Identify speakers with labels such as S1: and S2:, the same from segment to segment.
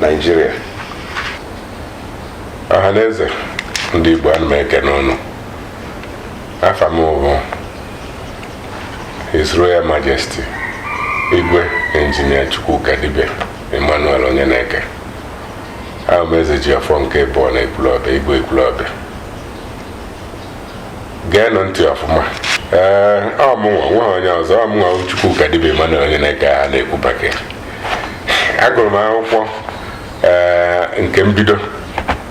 S1: Naijiria ọha na eze ndị Igbo ana m ekene ụnụ afa m bụ His Royal Majesty Igwe Injinia Chukwukadibia Emmanuel Onyeneke ahụ m Ezejiọfọ nke ịbụọ na Ekwulọbịa Igwe Ekwulọbịa geenụ ntị ọfụma ee ọ mụnwa o nwehe onye ọzọ ọ mụnwa Chukwukadibia Emmanuel Onyeneke a na-ekwu baka agụrụ m akwụkwọ ee nke mbido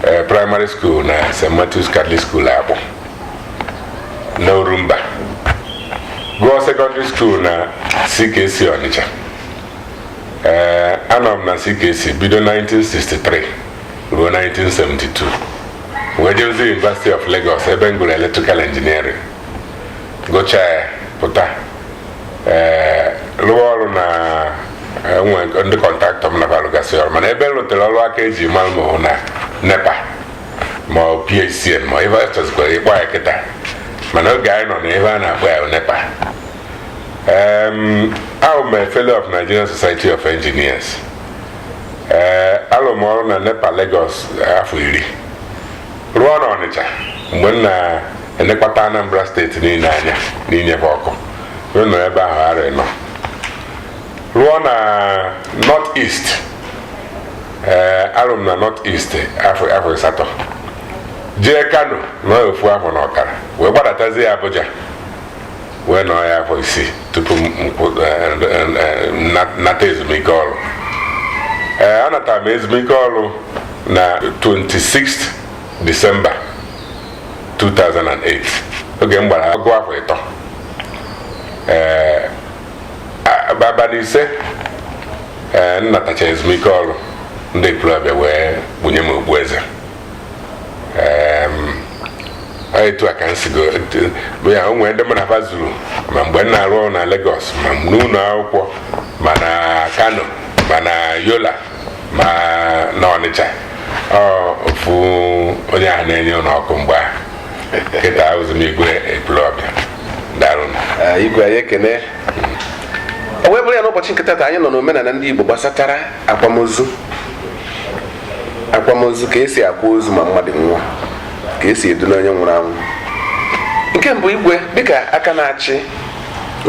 S1: ee primary school na St. Matthews Catholic School Akpụ na Orumba gụọ secondary school na CKC Ọnịcha ee anọ m na CKC bido 1963 ruo 1972 wee jeruzie University of Lagos ebe m gụrụ electrical engineering gụchaa ya pụta ee rụwa ọrụ na e nwe ndị kọntraktọ m nakwa alụgasị ọrụ mana ebe m rụtere ọrụ aka eji mara m ọ na nepa ma ọ PHCN ma ife a chọzikwara ịkpọ ya kịta mana oge anyị nọ na ya ife a na-akpọ ya bụ nepa em ahụ m a fellow of Nigerian Society of Engineers ee alụrụ m ọrụ na nepa Lagos afọ iri rụọ na ọnịcha mgbe m na-elekọta anambra steeti niile anya n'inye fa ọkụ wee nọ ebe ahụ arọ anọ rụọ na north east ee alụrụ m na north east afọ afọ asatọ jee kano nọ ofu afọ na ọkara wee gbadatazie abuja wee nọrọ ya afọ isii tupu m kwụ- eh, eh, eh, na- nata ezumike ọrụ ee anatara m ezumike ọrụ na 26 disemba 2008 oge m gbara ọgụ afọ ịtọ ee a- abalị ise ee m natacha ezumike ọrụ ndị Ekwulọbịa wee bunye m okpueze etu a ka m sigo ya o nwere ndị mụ na fa zuru ma mgbe m na-arụ ọrụ na Lagos ma n'ụlọ akwụkwọ ma na Kano ma na Yola ma na Ọnịcha ọ bụ onye ahụ na-enye ụnụ ọkụ mgbe ahụ kịta abụzi m igwe ekwulọbịa daalụ igwe anyị ekene o wee bụrụ ya n'ụbọchị nke taata anyị nọ n'omenala ndị Igbo gbasatara akwamozu akwamozu ka esi akwa ozu ma mmadụ nwụọ ka esi edula onye nwụrụ anwụ nke mbụ igwe dịka aka na-achị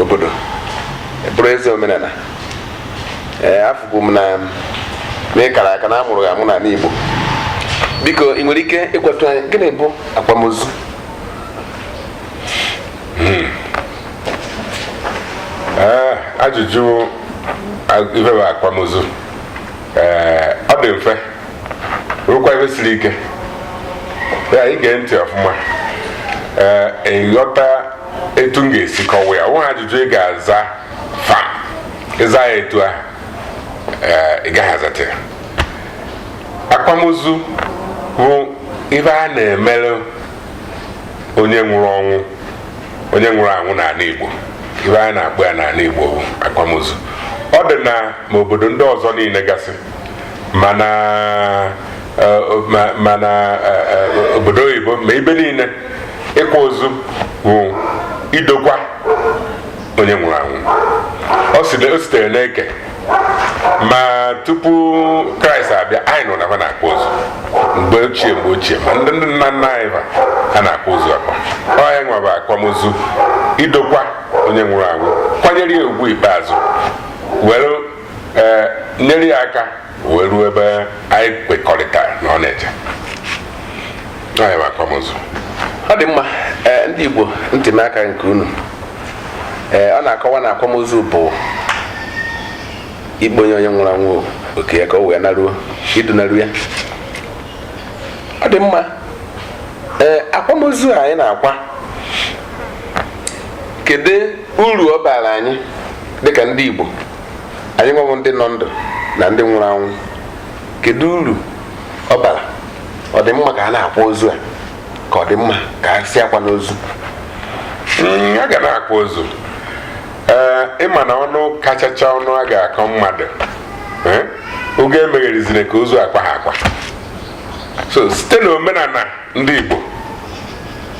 S1: obodo bụrụ eze omenala ee afụkwu m na ị kara aka na amụrụ amụ n'ala Igbo biko ị nwere ike ịgwatụ anyị gịnị bụ akwamozu hmm. ah, ajụjụ ife bụ akwamozu ee ọ dị mfe rụkwa ife siri ike ya i gee ntị ọfụma ee ị ghọta etu m ga-esi kọwa ya ọ wụghị ajụjụ ị ga-aza fam ị zaa ya etu ahụ ee ị gaghị azata ya akwamozu bụ ife a na-emere onye nwụrụ ọnwụ onye nwụrụ anwụ n'ala Igbo ife anyị na-akpọ ya n'ala Igbo bụ akwamozu ọ dị na ma obodo ndị ọzọ niile gasị ma na ma n'obodo oyibo ma ebe niile ịkwa ozu bụ idokwa onye nwụrụ anwụ o sitere n'eke ma tupu kraịst abịa anyị nụ na ha na-akwa ozu mgbe ochie mgbe ochie ma ndị ndị nna nna anyị ha na-akwa ozu akwa ọ ya nwa bụ akwamozu idokwa onye nwụrụ anwụ kwanyere ya ugwu ikpeazụ were eh, nyere ya aka wee ruo ebe anyị kwekọrịta na ọ na-eje ọ dị mma eh, ndị Igbo ntị m aka nke unu eh, ọ na-akọwa na akwamozu bụ ikponye onye nwụrụ anwụ oke ya ka o wee naruo idunaru ya ọ dị mma ee
S2: eh, akwamozu anyị na-akwa kedu uru ọ bara anyị dịka ndị Igbo anyị nwa bụ ndị nọ ndụ na ndị nwụrụ anwụ kedu uru ọ bara ọ dị mma ka a na-akwa ozu a ka ọ dị mma ka a sị akwana
S1: ozu Mm, a ga na-akwa ozu ee ị ma na ọnụ kachacha ọnụ a ga-akọ mmadụ ee, ọ gị emegherizina ka ozu akwaha akwa so site na omenala ndị Igbo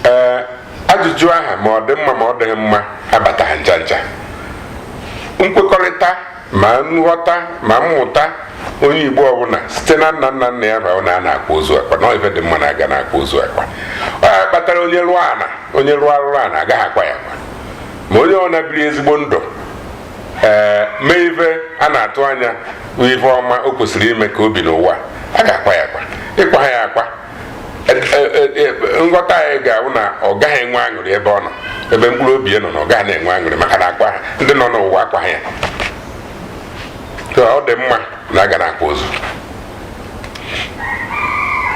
S1: ee ajụjụ ahụ ma ọ dị mma ma ọ dịghị mma abataghị ncha ncha nkwekọrịta ma nghọta ma mmụta onye igbo ọbụla site na nna nna nna ya bụ na a na-akwa ozu akwa na ife dị mma na a ga na-akwa ozu akwa ọ ya kpatara onye rụọ ana onye rụọ arụrụ ana agaghị akwa ya akwa ma onye ọbụna biri ezigbo ndụ ee eh, mee ife a na-atụ anya ife ọma o kwesịrị ime ka o bi n'ụwa a ga-akwa ya akwa ị kwaha ya akwa nghọta anyị ga-awụ na ọ gaghị enwe aṅụrị ebe ọ nọ ebe mkpụrụ obi ya nọ na ọ gaghị na-enwe aṅụrị maka na akwaha ndị nọ n'ụwa akwaha ya So, ọ dị mma na a ga na-akwa ozu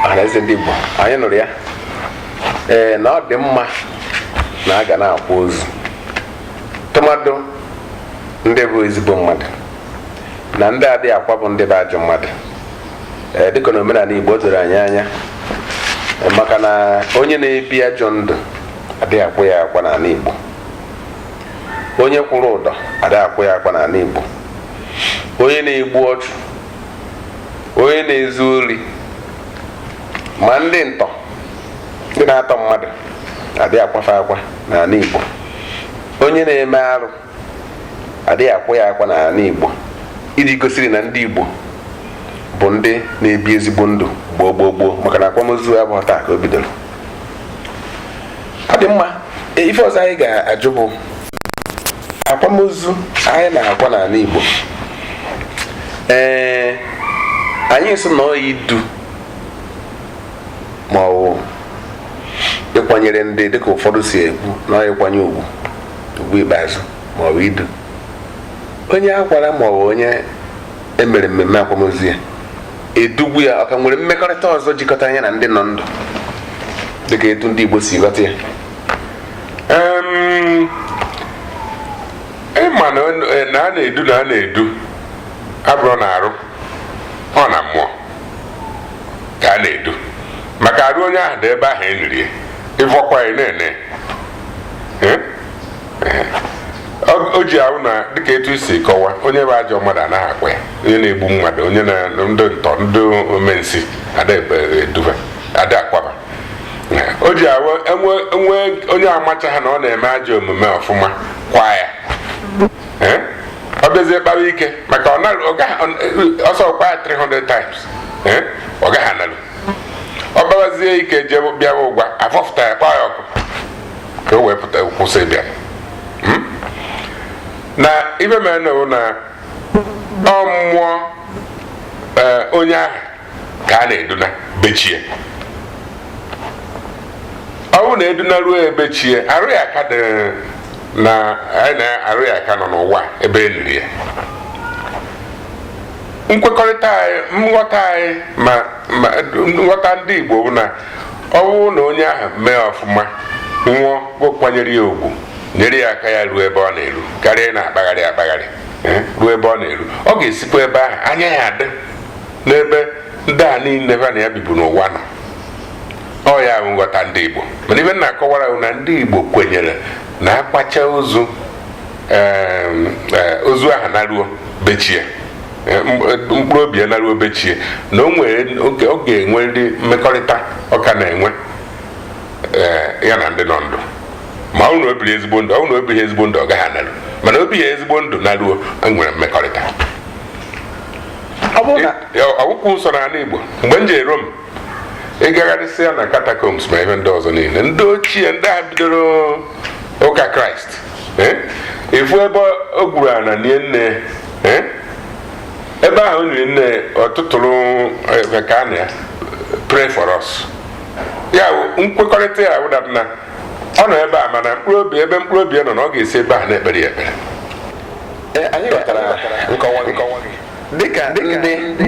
S2: ọhaneze ndị Igbo anyị nụrụ ya ee na ọ dị mma na a ga na-akwa ozu tụmadụ ndị bụ ezigbo mmadụ na ndị adịghị akwa bụ ndị bụ ajọ mmadụ ee dịka na omenala igbo doro anyị anya maka na onye na-ebi ajọ ndụ adịghị akwa ya akwa n'ala igbo onye kwụrụ ụdọ adịghị akwa ya akwa n'ala igbo onye na-egbu ọchụ onye na-ezu ori ma ndị ntọ ndị na-atọ mmadụ adịghị akwa fe akwa n'ala igbo onye na-eme arụ adịghị akwa ya akwa n'ala Igbo iji gosiri na ndị Igbo bụ ndị na-ebi ezigbo ndụ gboo gboo gboo maka na akwamozu abụhọ taa ka o bidoro ọ dị mma e, ife ọzọ anyị ga-ajụ bụ akwamozu anyị na-akwa n'ala Igbo ee anyị sị na ọ idu ma ọ bụ ịkwanyere ndị dịka ụfọdụ si ekwu na ọ ịkwanye ugwu ugwu ikpeazụ ma ọ bụ idu onye akwara ma ọ bụ onye emere mmemme akwamozu ya edugwu ya ọ ka nwere mmekọrịta ọzọ jikọtara ya na ndị nọ ndụ dịka etu ndị Igbo si ghọta ya
S1: ịma na a na-edu na a na-edu abụrọ na arụ ọ na mmụọ ka a na-edu maka arụ onye ahụ dị ebe ahụ eniri ya ịfọkwa ya nene o ji abụ na dịka etu i si kọwa onye bụ ajọ mmadụ anaghị akwa ya onye na-egbu mmadụ onye na ndị ntọ ndị ome nsi ada edu ba ada akwa ba o ji abụ enwee enwee onye amachaha na ọ na-eme ajọ omume ọfụma kwa ya Eh? ọ bịazie kpawa ike maka ọ na- ọ gaghị- ọ- ọ sọ kwa ya 300 times Eh? ọ gaghị analụ ọ kpawazie ike jee bịawa ụwa afọfụta ya kpọọ ya ọkụ ka o wee pụta kwụsị ịbịa hmm? na ife mere na na ọ mmụọ e, onye ahụ ka a na-eduna be chi ya ọ bụrụ na eduna ruo be chi ya arụ ya ka dị na arụ ya ka nọ n'ụwa ebe eniri ya nkwekọrịta anyị nghọta anyị ma ma nghọta ndị Igbo bụ na ọ bụrụ na onye ahụ mee ọfụma nwụọ akwanyere ya ugwu nyere ya aka ya ruo ebe ọ na-eru karịa ịna-akpagharị akpagharị eh, ruo ebe ọ na-eru ọ ga-esikwa ebe ahụ anya ya adị n'ebe ndị a niile ha na ya bibu n'ụwa nọ ọ ya bụ nghọta ndị Igbo mana ife na-akọwara na ndị Igbo kwenyere na akwachaa ozu ozu aha naruo be chi e mkpụrụ obi ya naruo be chi e na o nwere oge ọ ga-enwe ndị mmekọrịta ọ ka na-enwe ya na ndị nọ ndụ ma ọ wụ na o biri ezigbo ndụ ọ na o bighị ezigbo ndụ ọ gaghị anaru mana o bie ezigbo ndụ naruo nwere mmekọrịta ọ wụkwụ nsọ n'ala Igbo mgbe m jere Rom ị gagharịsịa na catacombs ma ebe ndị ọzọ niile ndị ochie ndị bidoro ụka kraịst eh? ị fụ ebe o gwuru ana nie nne eh? ebe ahụ o niri nne ọ tụtụrụ eh, kaa na ya pray for us ya nkwekọrịta ya wụ that na ọ nọ ebe a mana mkpụrụ obi ebe mkpụrụ obi nọ na ọ ga-esi ebe ahụ na-ekpere ya ekpere
S2: anyị ghọtara nkọwa gị dịka ndị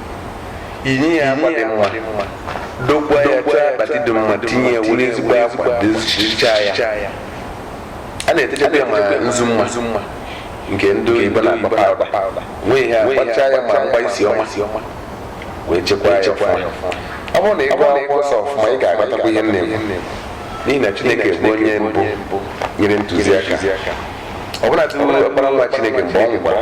S2: inye ya akwa dị mma dokwa ya chọọ akpati dị mma tinye ya were ezigbo akwa dịchaa ya a na-etechakwa ya ma nzu ma nke ndị oyibo na-akpọ pawụda nwee ihe a gbachaa ya ma mgba isi ọma wee chekwaa ya ọfụma ọ bụrụ na ị gụọ akwụkwọ nsọ ọfụma ị ga-aghọtakwa ihe nne m n'ihi na chineke bụ onye mbụ nyere ntụziaka ọbụnadị ọkpara nwa chineke mgbe ọ nwụkwara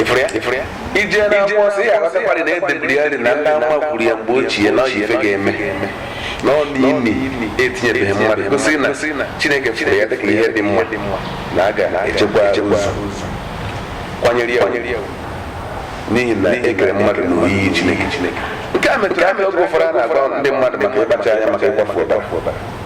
S2: ị fụrụ ya ị fụrụ ya i jee na akwụkwọ nsọ ị ya-aghọtakwara na e deburu ya rị na ndị amụma kwuru ya mgbe ochie na ọ wụ ife ga-eme na ọ na ini etinyebeghị mmadụ gosi na chineke fụrụ ya dịka ihe dị mma na a ga-echekwa ozu kwanyere ya ugwu. n'ihi na e kere mmadụ na oyiyi chineke nke a metụrụ aka oge ụfọdụ a na-agwa ndị mmadụ maka ịkpacha anya maka ịkwafu ọbara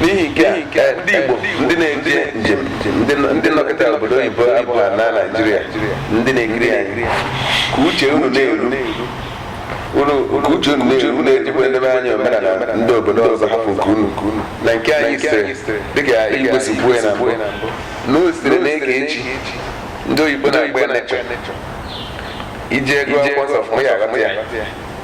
S2: n'ihi nke eh, ndị Igbo ndị na-eje njem ndị nọkata obodo oyibo abụghị na Naịjirịa ndị na-ekiri anyị ka uche unu na-eru ka uche unu na-eru na-ejikwa edebe anya omenala ndị obodo ọzọ hapụ nke unu na nke anyị sitere dịka Igbo si kwuo ya na mbụ na o sitere na eke chi ndị oyibo na-akpọ ya nature i jee gụọ akwụkwọ nsọ ọfụma ị ya-aghọta ya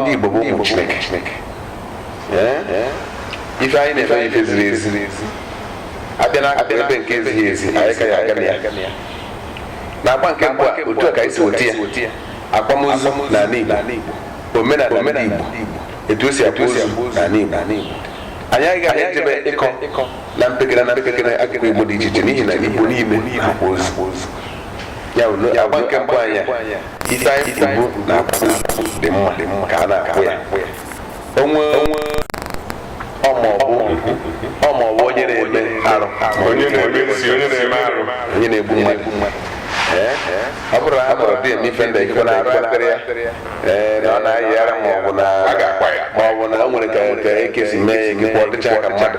S2: ndị Igbo bụ ụmụ Chineke ife anyị na-eme ife ziri ezi a bịa na akụkụ ebe nke ezighị ezi anyị ka ya-aga na ya na agba nke mbụ a otu a ka anyị si weta ya akwamozu na ala Igbo omenala ndị Igbo etu o si akwa ozu na ala Igbo anyị agaghị ejebe ịkọ na mpekere na mpekere akụkụ Igbo dị iche iche n'ihi na Igbo niile akwa ozu ya bụ agba nke mbụ anyị ife anyị kwuru na akwụkwọ Igbo dị mma dị mma ka a na-akpọ ya onwe onwe ọ ma ọ bụ ọ ma ọ bụ onye na-eme arụ onye na-eme
S1: nsi onye na-eme arụ onye na-egbu
S2: mmadụ Ee, ọ bụrụ na a nọrọ dị eme ife ndị ekwe na arụ akpịrị ya ee na ọ na-ayị ara ma ọ bụ na a ga-akwa ya ma ọ bụ na o nwere ka ka ekesi mee ya gị kwọ dịcha ka mmadụ